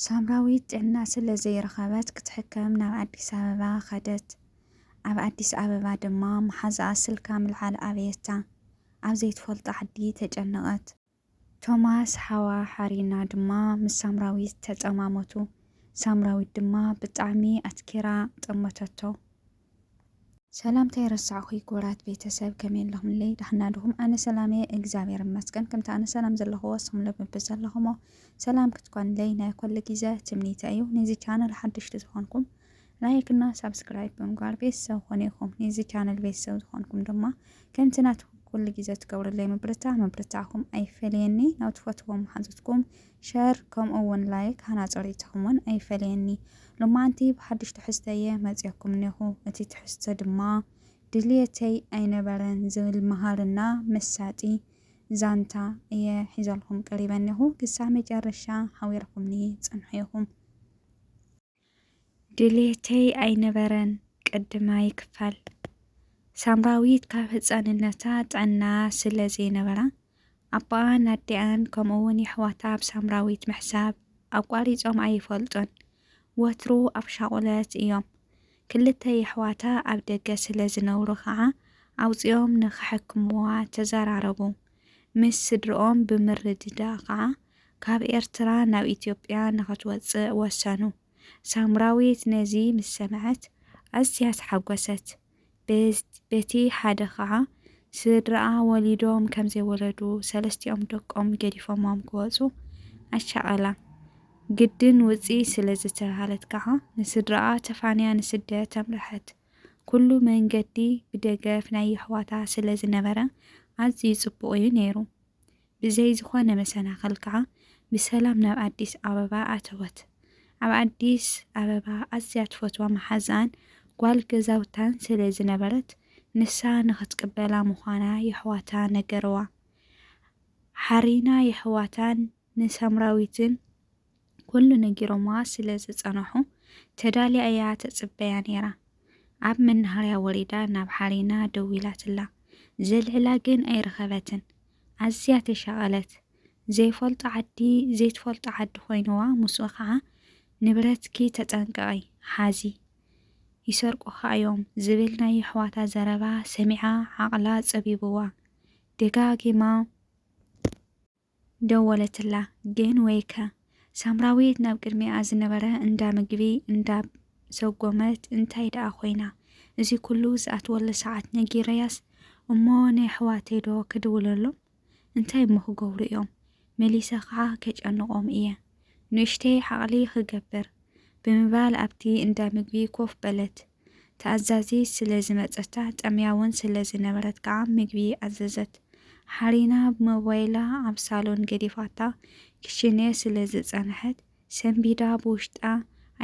ሳምራዊት ጥዕና ስለ ዘይረኸበት ክትሕከም ናብ ኣዲስ ኣበባ ከደት። ኣብ ኣዲስ ኣበባ ድማ መሓዝኣ ስልካ ምልዓል ኣበየታ። ኣብ ዘይትፈልጦ ዓዲ ተጨነቐት። ቶማስ ሓዋ ሓርዩና ድማ ምስ ሳምራዊት ተጸማሞቱ። ሳምራዊት ድማ ብጣዕሚ ኣትኪራ ጠመተቶ። ሰላም ታይ ረሳዕኩይ ኩቡራት ቤተሰብ ከመይ ኣለኹምለይ ዳሕና ድኹም ኣነ ሰላም እየ እግዚኣብሔር ይመስገን ከምቲ ኣነ ሰላም ዘለኹ ወስኹም ልብ ብዘለኹሞ ሰላም ክትኮንለይ ናይ ኮሉ ግዘ ትምኒተ እዩ ነዚ ቻነል ሓድሽቲ ዝኾንኩም ላይክ እና ሳብስክራይብ ብምግባር ቤተሰብ ኾነ ይኹም ነዚ ቻነል ቤተሰብ ዝኾንኩም ድማ ከምቲ ናትኩም ኩሉ ግዘ ትገብርለይ ምብርታ ምብርታዕኹም ኣይፈለየኒ ናብ ትፈትዎም መሓዙትኩም ሸር ከምኡ ውን ላይክ ሃናጺ ርኢቶኹም ውን ኣይፈለየኒ። ሎማዓንቲ ብሓድሽ ትሕዝቶ እየ መጺኦኩም እኔኹ እቲ ትሕዝቶ ድማ ድልየተይ ኣይነበረን ዝብል መሃርና መሳጢ ዛንታ እየ ሒዘልኹም ቀሪበ እኔኹ ክሳብ መጨረሻ ሓቢርኹምኒ ጽንሑ ኢኹም። ድሌተይ ኣይነበረን ቅድማይ ክፋል። ሳምራዊት ካብ ህጻንነታ ጥዕና ስለ ዘይነበራ፣ ኣቦኣን ኣዲኣን ከምኡ'ውን የሕዋታ ብሳምራዊት ምሕሳብ ኣቋሪጾም ኣይፈልጡን። ወትሩ ኣብ ሻቑለት እዮም። ክልተ የሕዋታ ኣብ ደገ ስለ ዝነብሩ ከኣ ኣውጺኦም ንኸሕክምዋ ተዘራረቡ። ምስ ስድርኦም ብምርድዳእ ከኣ ካብ ኤርትራ ናብ ኢትዮጵያ ንኽትወጽእ ወሰኑ። ሳምራዊት ነዚ ምስ ሰምዐት ኣዝያ ተሓጐሰት። በቲ ሓደ ከኣ ስድራኣ ወሊዶም ከም ዘይወለዱ ሰለስቲኦም ደቆም ገዲፎሞም ክወጹ ኣሻቐላ። ግድን ውጺ ስለ ዝተባህለት ከኣ ንስድራኣ ተፋንያ ንስደት ኣምርሐት። ኩሉ መንገዲ ብደገፍ ናይ የሕዋታ ስለ ዝነበረ ኣዝዩ ጽቡቕ እዩ ነይሩ። ብዘይ ዝኾነ መሰናኸል ከኣ ብሰላም ናብ ኣዲስ ኣበባ ኣተወት። ኣብ ኣዲስ ኣበባ ኣዝያ ትፈትዋ መሓዝኣን ጓል ገዛውታን ስለ ዝነበረት ንሳ ንኽትቅበላ ምዃና የሕዋታ ነገርዋ። ሓሪና የሕዋታን ንሳምራዊትን። ኩሉ ነጊሮምዋ ስለ ዝጸነሑ፣ ተዳልያ እያ ትጽበያ ነይራ። ኣብ መናሃርያ ወሪዳ ናብ ሓሪና ደዊላትላ። ዘልዕላ ግን ኣይረኸበትን። ኣዝያ ተሻቐለት። ዘይፈልጦ ዓዲ ዘይትፈልጦ ዓዲ ኮይኑዋ ምስኡ ከኣ ንብረትኪ ተጠንቀቒ፣ ሓዚ ይሰርቁኻ እዮም ዝብል ናይ የሕዋታ ዘረባ ሰሚዓ ዓቕላ ጸቢቡዋ ደጋጊማ ደወለትላ ግን ወይከ! ሳምራዊት ናብ ቅድሚኣ ዝነበረ እንዳ ምግቢ እንዳ ሰጎመት እንታይ ደኣ ኮይና እዚ ኩሉ ዝኣትወሉ ሰዓት ነጊረያስ እሞ ንየሕዋተይ ዶ ክድውለሎም እንታይ እሞ ክገብሩ እዮም መሊሰ ከዓ ከጨንቆም እየ ንእሽተይ ዓቅሊ ክገብር ብምባል ኣብቲ እንዳ ምግቢ ኮፍ በለት። ተኣዛዚት ስለ ዝመጸታ፣ ጠምያ'ውን ስለ ዝነበረት ከኣ ምግቢ ኣዘዘት። ሓሪና ሞባይላ ኣብ ሳሎን ገዲፋታ ክሽነ ስለ ዝጸንሐት፣ ሰንቢዳ ብውሽጣ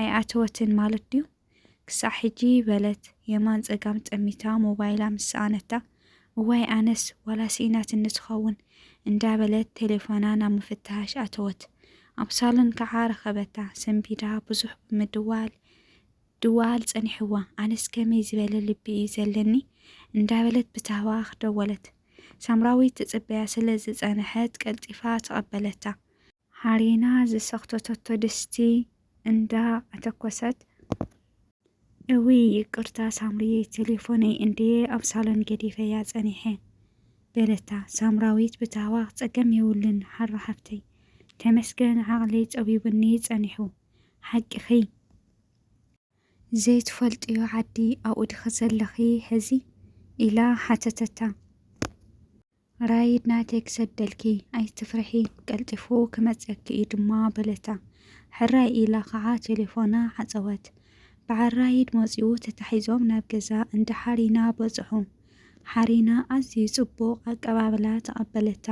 ኣይኣተወትን ማለት ድዩ? ክሳዕ ሕጂ በለት የማን ጸጋም ጠሚታ ሞባይላ ምስ ሰኣነታ። እዋይ ኣነስ ዋላ ስኢናትኒ ትኸውን እንዳ በለት ቴሌፎና ናብ ምፍታሽ ኣተወት። ኣብ ሳሎን ከኣ ረኸበታ። ሰንቢዳ ብዙሕ ብምድዋል ድዋል ጸኒሕዋ፣ ኣነስ ከመይ ዝበለ ልቢ እዩ ዘለኒ እንዳበለት ብታህዋኽ ደወለት። ሳምራዊት ትጽበያ ስለ ዝጸነሐት ቀልጢፋ ተቐበለታ። ሃሪና ዝሰኽተተቶ ድስቲ እንዳ ኣተኮሰት። እውይ ይቅርታ ሳምሪየይ ቴሌፎነይ እንድየ ኣብ ሳሎን ገዲፈያ ጸኒሐ በለታ ሳምራዊት ብታህዋኽ። ጸገም የብሉን ሃሮ ሓፍተይ ተመስገን ዓቕለይ ጸቢቡኒ ጸኒሑ ሓቂኺ። ዘይትፈልጥዮ ዓዲ ኣብኡ ዲኺ ዘለኺ ሕዚ? ኢላ ሓተተታ። ራይድ ናተይ ክሰደልኪ፣ ኣይትፍርሒ፣ ቀልጢፉ ክመጽኣኪ እዩ ድማ በለታ። ሕራይ ኢላ ኸዓ ቴሌፎና ዓጸወት። በዓል ራይድ መጺኡ ተታሒዞም ናብ ገዛ እንዳ ሓሪና በጽሑ። ሓሪና ኣዝዩ ጽቡቕ ኣቀባብላ ተቐበለታ።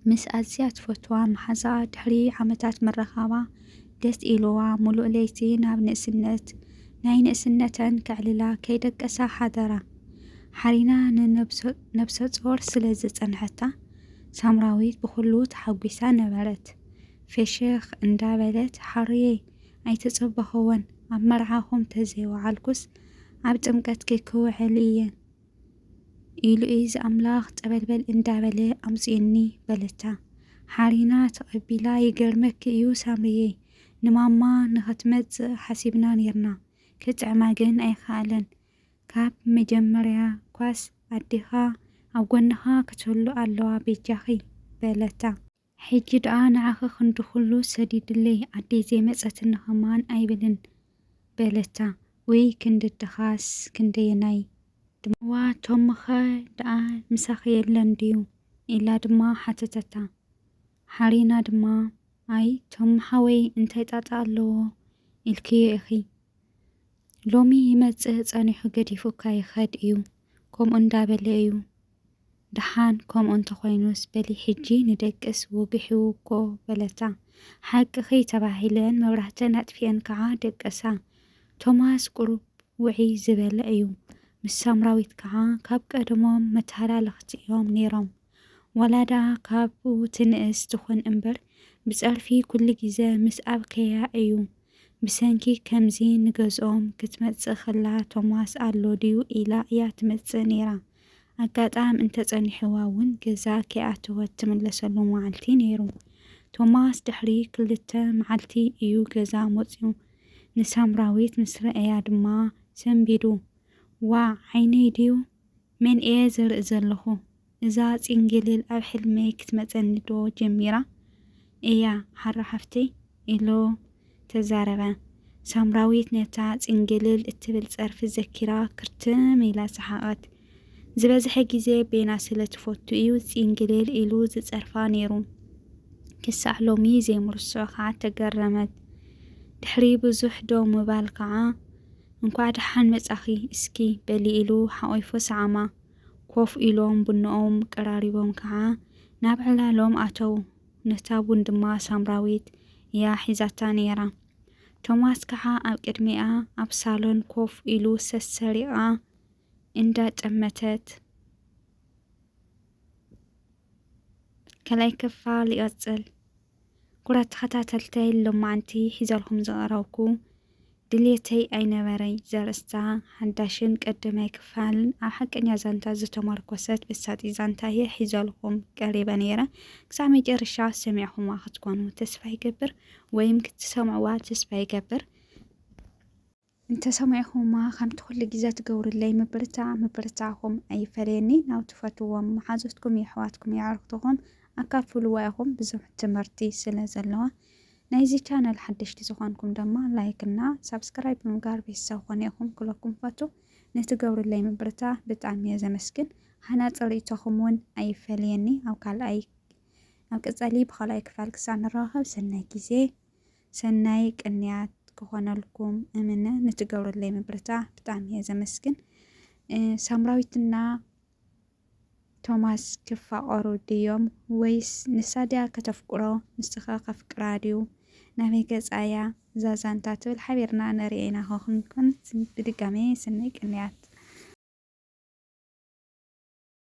ምስ ኣዝያ ትፈትዋ መሓዛኣ ድሕሪ ዓመታት ምርኻባ ደስ ኢሉዋ ምሉእ ለይቲ ናብ ንእስነት ናይ ንእስነተን ከዕልላ ከይደቀሳ ሓደራ። ሓሪና ንነብሰጾር ስለ ዝጸንሐታ ሳምራዊት ብኹሉ ተሓጒሳ ነበረት። ፌሽኽ እንዳበለት ሓሩየይ ኣይተጸበኹዎን ኣብ መርዓኹም ተዘይወዓልኩስ ኣብ ጥምቀትኪ ክውዕል እየ ኢሉ እዚ ኣምላኽ ጸበልበል እንዳበለ ኣምጽእኒ በለታ። ሓሪና ተቐቢላ ይገርመኪ እዩ ሳምርየይ ንማማ ንኸትመጽእ ሓሲብና ኔርና ክጥዕማ ግን ኣይከኣለን ካብ መጀመርያ ኳስ ኣዴኻ ኣብ ጎንኻ ክትህሉ ኣለዋ ቤጃኺ በለታ። ሕጂ ደኣ ንዓኺ ክንዲ ዅሉ ሰዲድለይ፣ ኣደይ ዘይመጸትኒ ኸማን ኣይብልን፣ በለታ። ውይ ክንዲ ኣደኻስ ክንደየናይ ድሞ! እዋ ቶምኸ ደኣ ምሳኺ የለን ድዩ? ኢላ ድማ ሓተተታ። ሓሪና ድማ፣ ኣይ ቶም ሓወይ እንታይ ጣጣ ኣለዎ ኢልክዮ ኢኺ፣ ሎሚ ይመጽእ ጸኒሑ ገዲፉካ ይኸድ እዩ፣ ከምኡ እንዳበለ እዩ ደሓን ከምኡ እንተኾይኑስ በሊ ሕጂ ንደቅስ ወጊሑ'ኮ በለታ። ሓቅኺ ተባሂለን መብራህተን ኣጥፊኤን ከኣ ደቀሳ። ቶማስ ቁሩብ ውዕይ ዝበለ እዩ። ምስ ሳምራዊት ከኣ ካብ ቀደሞም መተሃላለኽቲ እዮም ነይሮም። ዋላ ደኣ ካብኡ ትንእስ ትኹን እምበር ብጸርፊ ኩሉ ግዜ ምስ ኣብከያ እዩ። ብሰንኪ ከምዚ ንገዝኦም ክትመጽእ ከላ ቶማስ ኣሎ ድዩ ኢላ እያ ትመጽእ ነይራ። ኣጋጣም እንተ ጸኒሕዋ እውን ገዛ ከይኣተወት እትምለሰሉ መዓልቲ ነይሩ። ቶማስ ድሕሪ ክልተ መዓልቲ እዩ ገዛ መጺኡ። ንሳምራዊት ምስ ረኣያ ድማ ሰንቢዱ፣ ዋእ ዓይነይ ድዩ? መን እየ ዝርኢ ዘለኹ? እዛ ጺንግልል ኣብ ሕልመይ ክትመጸኒዶ ጀሚራ እያ ሓራ ሓፍተይ? ኢሉ። ተዛረበ። ሳምራዊት ነታ ጽንግልል እትብል ጸርፊ ዘኪራ ክርትም ኢላ ሰሓቐት። ዝበዝሐ ግዜ ቤና ስለ ትፈቱ እዩ ጽንግልል ኢሉ ዝጸርፋ ነይሩ። ክሳዕ ሎሚ ዘይምርስዖ ከኣ ተገረመት። ድሕሪ ብዙሕ ደው ምባል ከኣ እንኳዕ ደሓን መጻኺ እስኪ በሊ ኢሉ ሓቚፉ ሰዓማ። ኮፍ ኢሎም ቡኖኦም ቀራሪቦም ከኣ ናብ ዕላሎም ኣተዉ። ነታ ቡን ድማ ሳምራዊት እያ ሒዛታ ነይራ። ቶማስ ከኣ ኣብ ቅድሚኣ ኣብ ሳሎን ኮፍ ኢሉ ሰሰሪቓ እንዳ ጨመተት ካልኣይ ክፋል ይቐጽል። ኩራት ተኸታተልተይ ሎማዕንቲ ሒዘልኩም ዝቐረብኩ ድልየተይ ኣይነበረይ ዘርእስታ ሓዳሽን ቀደማይ ክፋልን ኣብ ሓቀኛ ዛንታ ዝተመርኮሰት መሳጢት ዛንታ እየ ሒዘልኹም ቀሪበ ነይረ። ክሳዕ መጨረሻ ሰሚዕኹማ ክትኮኑ ተስፋ ይገብር ወይም ክትሰምዕዋ ተስፋ ይገብር። እንተሰማዒኹማ ከምቲ ኩሉ ግዜ ትገብሩለይ ምብርታዕ ምብርታዕኹም ኣይፈለየኒ። ናብ ትፈትዎም መሓዙትኩም፣ የሕዋትኩም፣ የዕርኽትኹም ኣካፍልዋ ኢኹም ብዙሕ ትምህርቲ ስለ ዘለዋ። ናይዚ ቻነል ሓደሽቲ ዝኾንኩም ደማ ላይክ እና ሳብስክራይብ ብምግባር ቤተሰብ ኮኑ ኢኹም ክብለኩም ፈቱ። ንትገብሩለይ ምብርታ ብጣዕሚ እየ ዘመስግን። ሃናጺ ርኢቶኹም ውን ኣይፈለየኒ። ኣብ ካልኣይ ኣብ ቀጻሊ ብኻልኣይ ክፋል ክሳዕ ንራኸብ ሰናይ ግዜ ሰናይ ቅንያት ክኾነልኩም እምነ። ንትገብሩለይ ምብርታ ብጣዕሚ እየ ዘመስግን። ሳምራዊትና ቶማስ ክፋቐሩ ድዮም ወይስ ንሳ ድያ ከተፍቅሮ ንሱኸ ከፍቅራ ድዩ ናበይ ገጻ እያ እዛ ዛንታ ትብል ሓቢርና ንርእያ ኢና ኾንኩን ብድጋሜ ሰናይ ቅንያት።